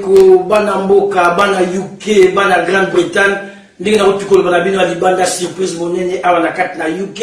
Ko bana mboka, bana UK, bana Grande Bretagne, ndenge na kotika koloba na bino ya libanda surprise monene awa na kati na UK.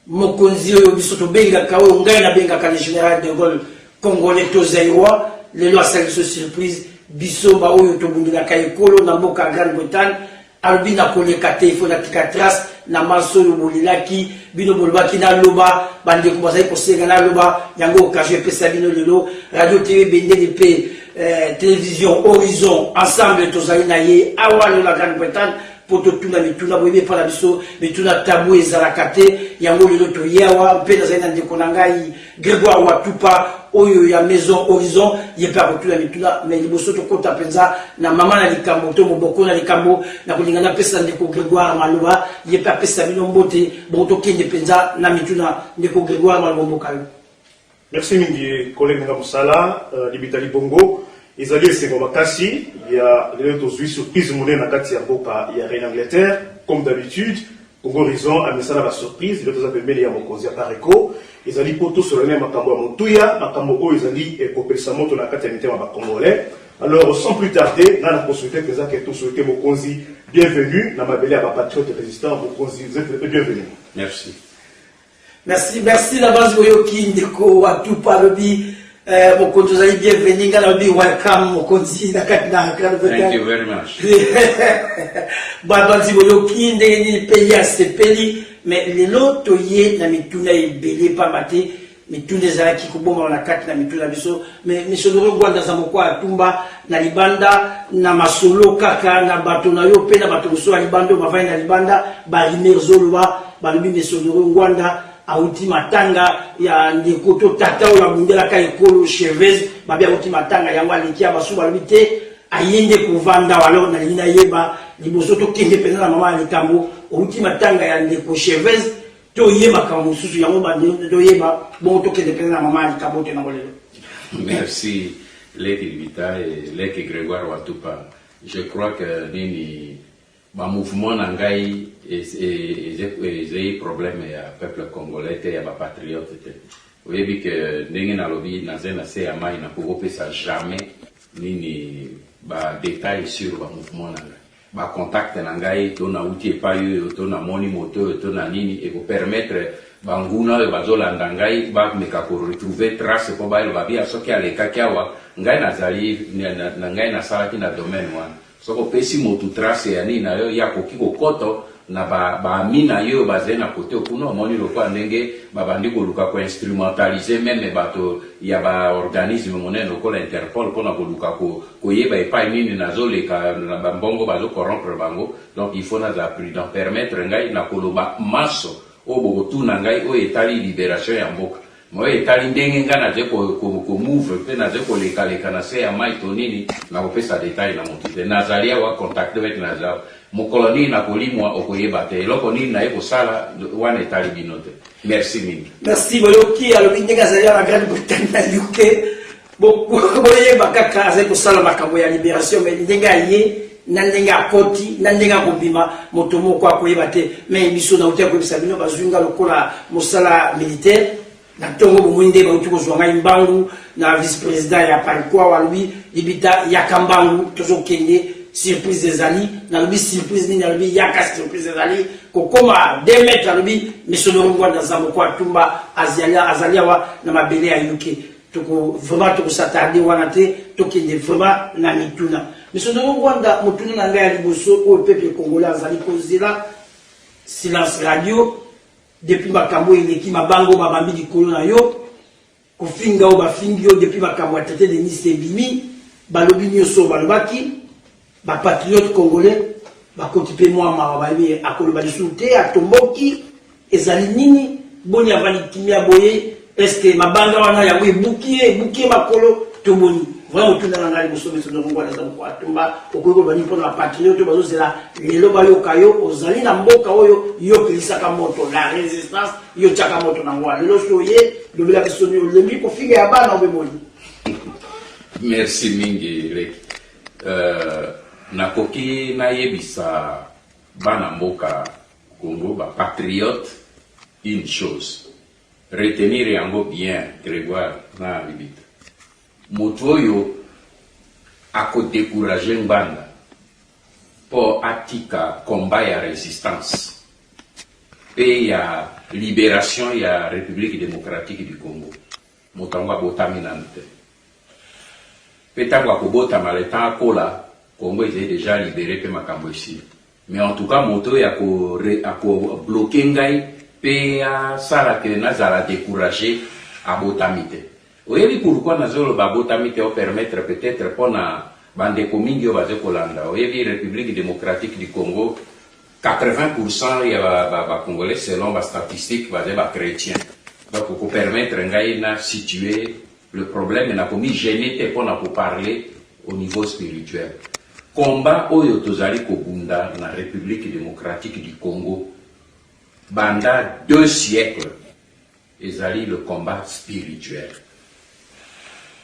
Mokonzi oyo biso tobengaka oyo ngai nabengaka le général de Gaulle congolais to zaïrois, lelo asali biso surprise biso baoyo tobundelaka ekolo na mboka ya Grande Bretagne Alobi na koleka te il faut na tika trace na manso oyo bolelaki bino bolobaki na loba bandeko bazali kosenga na loba yango occasion epesa bino lelo radio tv bendele mpe eh, television horizon ensemble tozali na ye awa lelo na grande bretagne mpo totuna mituna boyebi epai na biso mituna tabu ezalaka te yango lelo toye awa mpe nazali na ndeko na ngai Gregoire Watupa oyo ya Maison Horizon ye mpe akotuna mituna me liboso tokota mpenza na mama na likambo to moboko na likambo na kolinga napesa ndeko Gregoire Maloba ye mpe apesa bino mbote bongo tokende mpenza na mituna ndeko Gregoire Maloba mboka yo Merci mingi collègue nga mosala euh, libita libongo ezali esengo makasi ya lelo tozwi surprise monene na kati ya mboka ya Reine Angleterre comme d'habitude Congo Horizon amesana ba surprise lelo toza pembeni ya mokonzi ya Pareco ezali mpo tosolana ya makambo ya motuya makambo oyo ezali kopelisa moto na kati ya mitema ba congolais alors sans plus tarder nga na consulte mpenza ke tosolute mokonzi bienvenue na mabele ya bapatriote résistant mokonzi vous êtes le bienvenu merci Merci merci na base oyoki ndeko wa tupa alobi eh, mokonzi ozali bienvenu ngai nalobi welcome mokonzi na kati na Thank you very much. babanzi boyoki ndenge nini pays asepeli mais lelo toye na mituna ebele mpamba te mituna ezalaki kobomama na kati na mituna biso Mais Monsieur Laurent Gwanda Zamoko atumba na libanda na masolo kaka na bato na yo mpe na bato mosusu ya libanda oyo bavandi na libanda barimer zoloba balobi Monsieur Laurent Gwanda awuti matanga ya ndeko to tata oyo abundelaka ekolo Chavez babi awuti matanga yango aleki ya basusu balobi te aye nde kovanda alors nalingi nayeba liboso tokende mpenza na mama ya likambo owuti matanga ya ndeko Chavez toye makambo mosusu yango bandi toyeba bongo tokende mpenza na mama ya likabo te nango lelo merci leki libita e leki grégoire watupa je crois que nini bamouvement na ngai ezali problème ya peuple congolais te ya bapatriote te oyebi ke ndenge nalobi naza na se ya mai nakoki kopesa jamais nini badetail sur bamouvement na ngai ba contact na ngai to nawuti epayi oyo to namoni moto oyo to na nini eko permettre ba nguna oyo bazo landa ngai ba meka ko retrouver trace po ba loba bien soki alekaki awa ngai nazali ngai nasalaki na domaine wana soki opesi mutu trace ya nini nayo ye akoki kokoto Na ba ba amis na yo oyo bazali na cote kuna omoni lokola ndenge ba bandi koluka ko instrumentaliser meme bato ya ba organismes monene lokola Interpol pona koluka ko koyeba epayi nini nazo leka na ba mbongo bazo corrompre bango donc il faut nazala prudent permettre ngai na koloba manso oyo bokotuna ngai oyo etali liberation ya mboka Moye etali ndenge nga nazali ko mouve pe nazali koleka leka na se ya mayi to nini, nakopesa detail na mutu te. Nazali awa contacte mec nazali awa. Mokolo nini nakolimua okoyeba te. Eloko nini naye kosala wana etali bino te. Merci mingi. Merci boyoki alobi ndenge azali awa na grande Bretagne na UK. boyeba kaka azali kosala makambo ya liberation me ndenge aye na ndenge akoti na ndenge akobima moto moko akoyeba te me biso nauti akoyebisa bino bazwi nga lokola mosala militaire na ntongo bomoi nde bauti kozwa ngai mbangu na vice président ya parikua walobi libita yaka mbangu tozokende surprise ezali nalobi surprise nini alobi yaka surprise ezali kokoma de mètre alobi misolo ngwanda zamoko atumba azali awa na mabele ya yuke Toko vraiment toko s'attarder wana te, tokende vraiment na mituna. Monsieur Ndongo Ngwanda, motuna na ngai ya liboso oyo peuple congolais azali kozela, Silence Radio, depuis makambo oyo eleki, mabanga oyo babambi likolo na yo, kofinga oyo bafingi yo depuis makambo ya traite de Nice ebimi, balobi nioso oyo balobaki, Ba patriotes congolais bakoti pe mua mawa bayebi akoloba lisusu te atomboki ezali nini boni avandi kimia boye est ce que mabanga wana yango ebuki ye ebuki ye makolo to boni vraiment otuna na ngai liboso biso donc ngwana eza moko atumba okoki koloba nini mpona bapatriote bazozela lelo bayoka yo ozali na mboka oyo yo okilisaka moto la resistance yo otyaka moto na ngwa lelo so oye lobela biso nini olembi kofinga ya bana obemoni merci mingi leki Euh, nakoki nayebisa bana mboka Congo ba patriotes une chose retenir yango bien Gregoire na Libita, moto oyo ako decourager Ngbanda mpo atika combat ya resistance mpe ya liberation ya Republique democratique du Congo, Moto yango abotami nanu te pe tango akobotama le temps akola Congo ezali dejà libere pe makambo esili mais en tout cas moto oyo ako ako bloque ngai pe asala que nazala decourage abotami te oyebi pourquoi nazo loba abotami te o permettre peut etre pona ba ndeko mingi oyo bazo kolanda oyebi Republique Democratique du Congo 80 pour cent ya ba ba congolais selon ba statistiques bazali ba chretiens donc oko permettre ngai na situer le problème na komi gener te pona ko parler au niveau spirituel combat oyo tozali kobunda na Republique democratique du Congo banda deux siècles Ezali le combat spirituel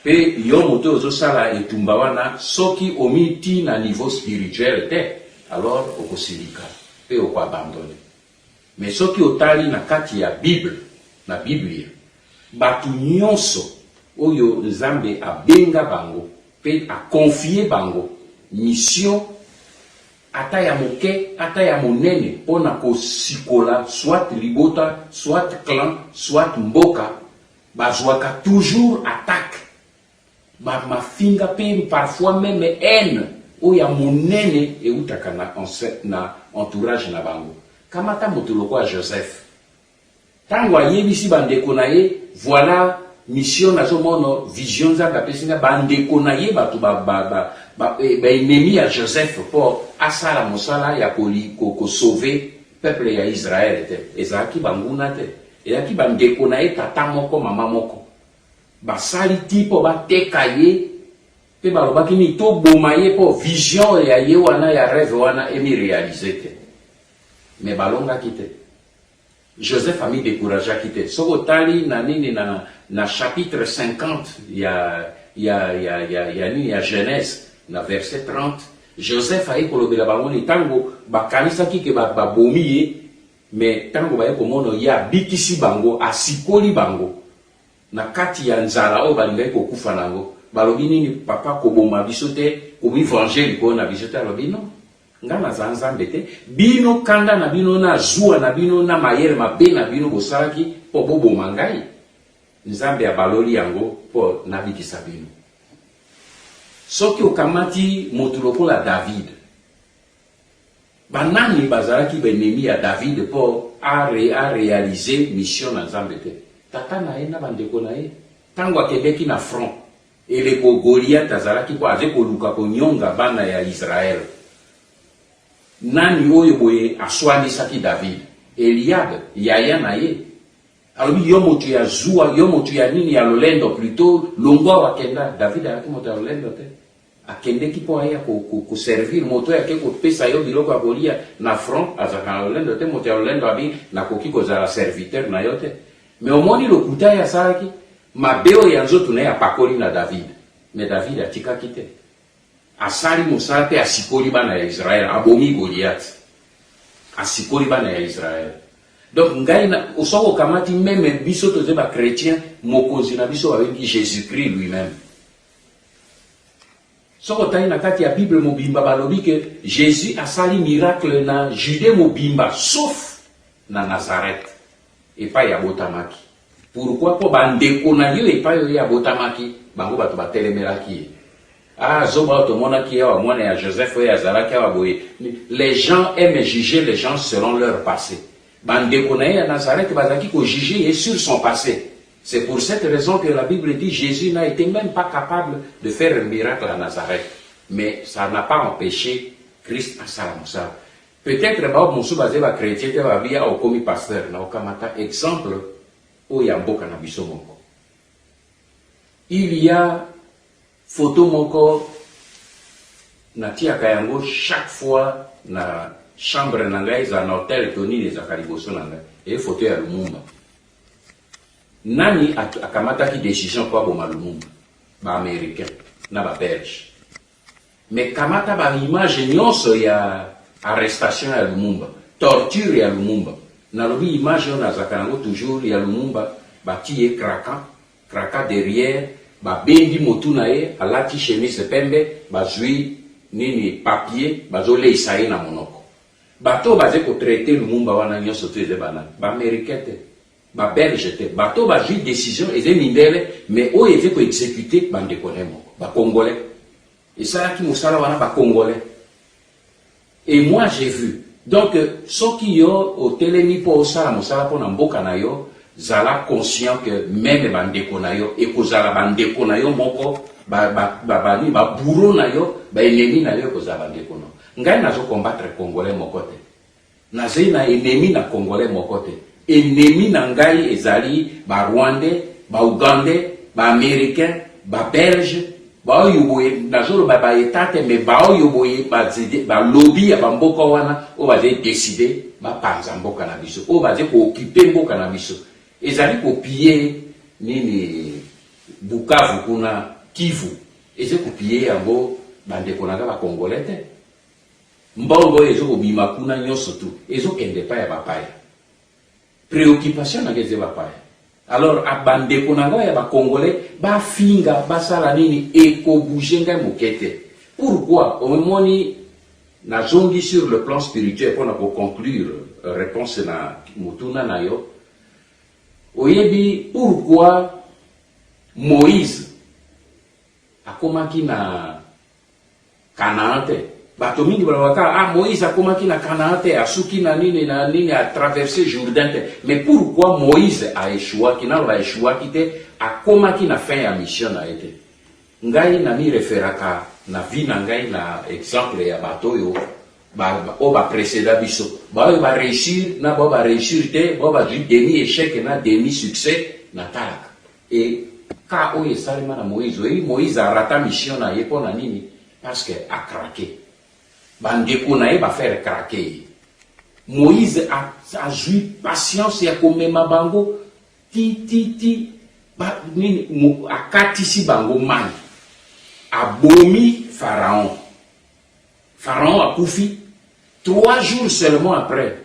pe yo moto ozo sala etumba wana soki omi ti na niveau spirituel te alors oko silika pe oko abandonne mais soki otali na kati ya bible na biblia batu nionso oyo nzambe abenga bango pe a confier bango mission ata ya moke, ata ya monene, mpo na kosikola soit libota, soit clan, soit mboka, bazuaka toujours attaque, ba mafinga mpe parfois meme haine oyo ya monene ewutaka na entourage na bango. Kamata moto lokola Joseph. Tango ayebisi ba ndeko na ye voila mission nazo mono vision nzambe apesi nga ba ndeko na ye batu ba ba ba ba ennemis ya Joseph po asala mosala ya ko ko sauver peuple ya Israël te ezalaki ba nguna te ezalaki ba ndeko na ye tata moko mama moko basali ti po ba teka ye pe ba lobaki ni to boma ye po vision ya ye wana ya reve wana emi realiser te mais ba longaki te Joseph ami decourageaki te soki otali na nini na na chapitre 50 ya ya ya ya ya nini ya Genèse na verset 30 Joseph aye kolobela bango ni tango bakanisaki ke ba babomi ye mais tango baye komono ye abikisi bango asikoli bango na kati ya nzala oyo balingaki kokufa nango balobi nini papa koboma biso te komi venger likolo na biso te alobi non Nga naza nzambe te bino kanda na bino na zuwa na bino na mayele mabe na bino bosalaki po boboma ngai nzambe abaloli yango po nabikisa bino soki okamati motu lokola david banani bazalaki baenemi ya david po a realize mission na nzambe te tata na ye na bandeko na ye tango akendeki na front Eleko Goliath azalaki ko aze koluka konyonga bana ya Israël, nani oyo boye aswanisaki David? Eliab, yaya na ye. Alobi, yo motu ya zuwa, yo motu ya nini, ya lolendo plutot, longwa awa kenda. David azalaki moto ya lolendo te. Akendeki po aya ko, ko, ko servir moto oyo ake kopesa yo biloko ya kolia na front. Azalaka na lolendo te. Moto ya lolendo abi, nakoki kozala serviteur na yo te. Mais omoni lokuta ye asalaki mabe oyo ya nzoto na ye apakoli na David, mais David atikaki te, asali mosala mpe asikoli bana ya Israël, abomi Goliath, asikoli bana ya Israël. Donc ngai na soki okamati meme biso toze ba chrétien, mokonzi na biso babengi Jésus-Christ lui-même. Soki otali na kati ya Bible mobimba balobi ke Jésus asali miracle na Judée mobimba sauf na Nazareth. epayi abotamaki pourquoi po ba ndeko nayo epayi oyo ye abotamaki bango batu ba telemelaki ye ah zoba oyo tomonaki ye awa mwana ya Joseph oyo azalaki awa boye les gens aiment juger les gens selon leur passe ba ndeko naye ya Nazareth bazalaki ko juger ye sur son passe c'est pour cette raison que la bible dit Jesus n'a ete meme pas capable de faire un miracle à Nazareth mais ça n'a pas empeche Christ asala mosala Peut etre ba mosusu bazali ba chretiens te ba bi awa okomi pasteur na okamata exemple oyo ya mboka na biso moko il ya photo moko natiaka yango chaque fois na chambre na ngai eza na hotel to nini ezalaka liboso na ngai eye foto ya lumumba nani akamataki decision mpo aboma lumumba baaméricain na babelge Mais kamata ba images nionso ya arrestation ya Lumumba, torture ya Lumumba. Nalobi image oyo nazalaka nango toujours ya Lumumba batii ye craka craka derriere, babendi motu na ye, alati chemise pembe, bazui nini papier bazo leisa ye na monoko. Bato oyo baze ko traiter Lumumba wana nionso tout eza ba nani? Ba americains te. Ba belge te bato oyo bazui decision eza mindele mais oyo eve ko execute ba ndeko naye moko ba congolais esalaki mosala wana ba congolais et moi j'ai vu donc soki yo otelemi mpo osala mosala mpo na mboka na yo zala conscient que meme ba ndeko na yo ekozala ba ndeko na yo moko ba ba ba ba ba bouro na yo ba enemi na yo ekozala ba ndeko na ngai nazo combattre congolais moko te Nazali na enemi na congolais moko te enemi na ngai ezali ba rwandais ba ougandais ba americain ba belge baoyo boye nazoloba ba etat te mais baoyo boye ba lobi ya bamboka wana oyo bazali decide bapanza mboka na biso oyo bazali kookipe mboka na biso ezali kopiye nini bukavu kuna kivu ezali kopiye yango bandeko na ngai bacongolais te Mbongo oyo ezo kobima kuna nionso tout ezo kende epai ya bapaya. Preoccupation na nga eza bapaya. Alors a bandeko na nga ya ba congolais ba finga basala nini eko bouger ngai moke te. Pourquoi omoni nazongi sur le plan spirituel mpo na ko conclure euh, réponse na motuna na yo oyebi pourquoi moïse akomaki na Canaan te. Bato mingi balobaka kaka ah Moïse akomaki na Canaan te, asuki na nini na nini, a traverser Jourdain te. Mais pourquoi Moïse a échouaki? Naloba échouaki te, akomaki na fin ya mission na ye te. Ngai na mi referaka na vie na ngai na exemple ya bato oyo ba, ba, oyo ba preceda biso, baoyo ba reussir na baoyo ba reussir te, baoyo bazwi demi échec na demi succès, natalaka. Et cas oyo esalema na Moïse, oyebi Moïse a rata mission na ye pona nini? Parce que a craquer. Ba ndeko na ye ba faire craquer ye. Moïse a, a zui patience ya komema bango ti ti ti ba nini akatisi bango mai. Abomi Pharaon. Pharaon akufi trois jours seulement après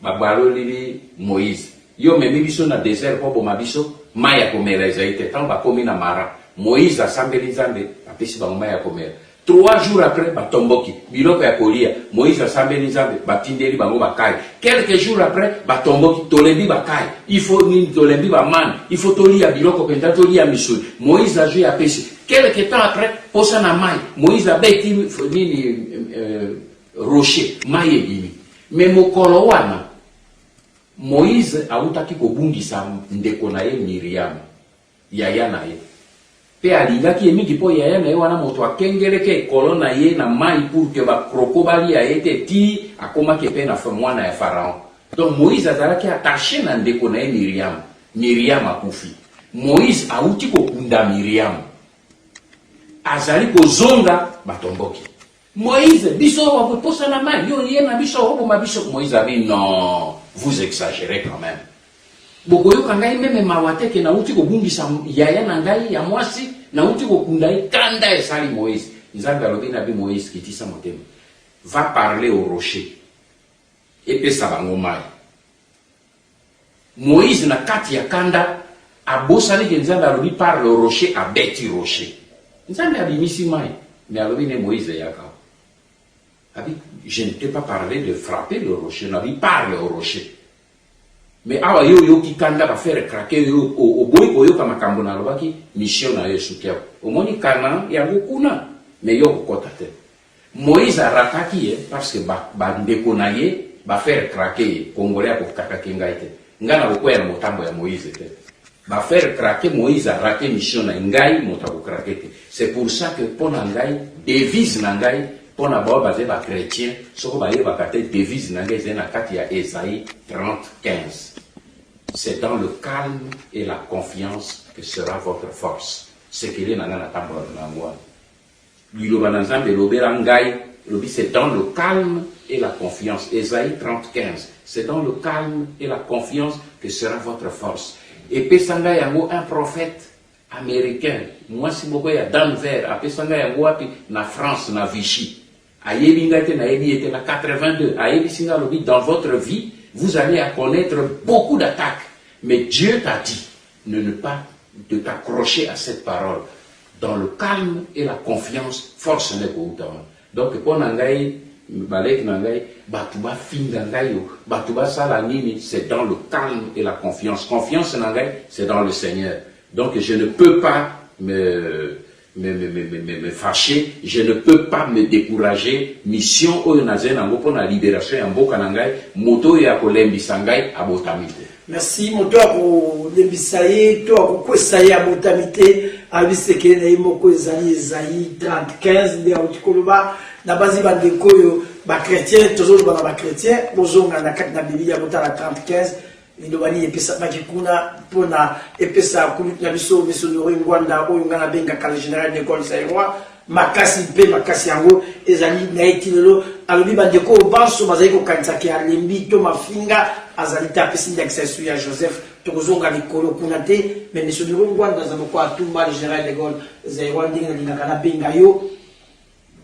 babalolili Moïse yo memi biso na desert po boma biso mai ya komela ezali te tango bakomi na Mara Moïse asambeli Nzambe apesi bango mai ya komela trois jours après batomboki biloko ya kolia Moïse asambeli Nzambe batindeli bango bakai quelques jours après batomboki tolembi bakai il faut nini tolembi bamane il faut tolia biloko mpenza tolia misuni Moïse azwi apesi Quelque temps après, posa na mai, Moïse abeti nini euh, rocher, mai ebimi. Mais mokolo wana Moïse awutaki kobungisa ndeko na ye Miriam, yaya na ye. Pe alingaki ye mingi mpo yaya na ye wana moto akengeleke ekolo na ye na mai pour que bakroko balia ye te ti akomaki mpe na mwana ya Pharaon. Donc Moïse azalaki attache na ndeko na ye Miriam. Miriam akufi. Moïse awuti kokunda Miriam. Azali kozonga, batomboki. Moïse, biso awa kokosa na mayi, yo oye na biso oboma biso. Moïse abi, non, vous exagerez quand meme. Bokoyoka ngai meme mawa te que nawuti kobungisa yaya na ngai ya mwasi, nawuti kokunda ye. Kanda esali Moïse. Nzambe alobi na bi Moïse, kitisa motema. Va parler au rocher. Epesa bango mayi. Moïse na kati ya kanda abosani ke Nzambe alobi par le rocher abeti rocher. Nzambe abimisi mai mais alobi ne Moïse yaka awa. Abi je ne t'ai pas parlé de frapper le rocher, nabi parle au rocher. Mais awa yo oyoki kanda ba faire craquer yo oboyi koyoka makambo nalobaki mission na yo esuki awa. Omoni Canaan yango kuna mais yo okokota te. Moise a rataki ye parce que ba ba ndeko na ye ba faire craquer ye, congolais ako craquer ngai te, ngai nako kweya na motambo ya Moise te, ba faire craquer Moise a rater mission na ye, ngai moto ako craquer te, c'est pour ça que pona ngai devise na ngai pona ba oyo bazali ba chretiens soko ba yebaka te devise na ngai ezali na kati ya Esaie 30, 15 c'est dans le calme et la confiance que sera votre force, secret na ngai na tambolaka na yango wana. Liloba na Nzambe Lobela ngai elobi c'est dans le calme et la confiance, Esaïe 30, 15, c'est dans le calme et la confiance que sera votre force. Epesa ngai yango un prophète americain, mwasi moko ya Denver, apesa ngai yango wapi? Na France, na Vichy. Ayebi ngai te nayebi ye te na 82 ayebisi ngai alobi dans votre vie vous allez à connaître beaucoup d'attaques mais Dieu t'a dit ne ne pas de t'accrocher à cette parole dans le calme et la confiance force n'est kouta wana donc mpo na ngai baleki na ngai bato bafinga ngai yo bato basala nini c'est dans le calme et la confiance confiance na ngai c'est dans le Seigneur donc je ne peux pas me Me me me me me fache je ne peux pas me decourager mission oyo nazali na yango pona liberation ya mboka na ngai moto oyo ako lembisa ngai abotami te. Merci moto ako lembisa ye to ako kwesa ye abotami te abi sekele na ye moko ezali ezali 3015 nde auti koloba na bazi ba ndeko oyo ba chrétien tozoloba na ba chrétien bozonga na kati na bibilia botala 3015 Liloba nini epesamaki kuna mpo na epesa kulutu na biso Misonoro Ingwanda oyo ngai nabengaka le general de gaulle zaïrois makasi mpe makasi yango ezali na ye ti lelo alobi bandeko oyo banso bazali kokanisa ke alembi to mafinga azali te apesi ndakisa esu ya joseph tokozonga likolo kuna te me misonoro ngwanda aza moko atumba le general de gaulle zaïrois ndenge nalingaka nabenga yo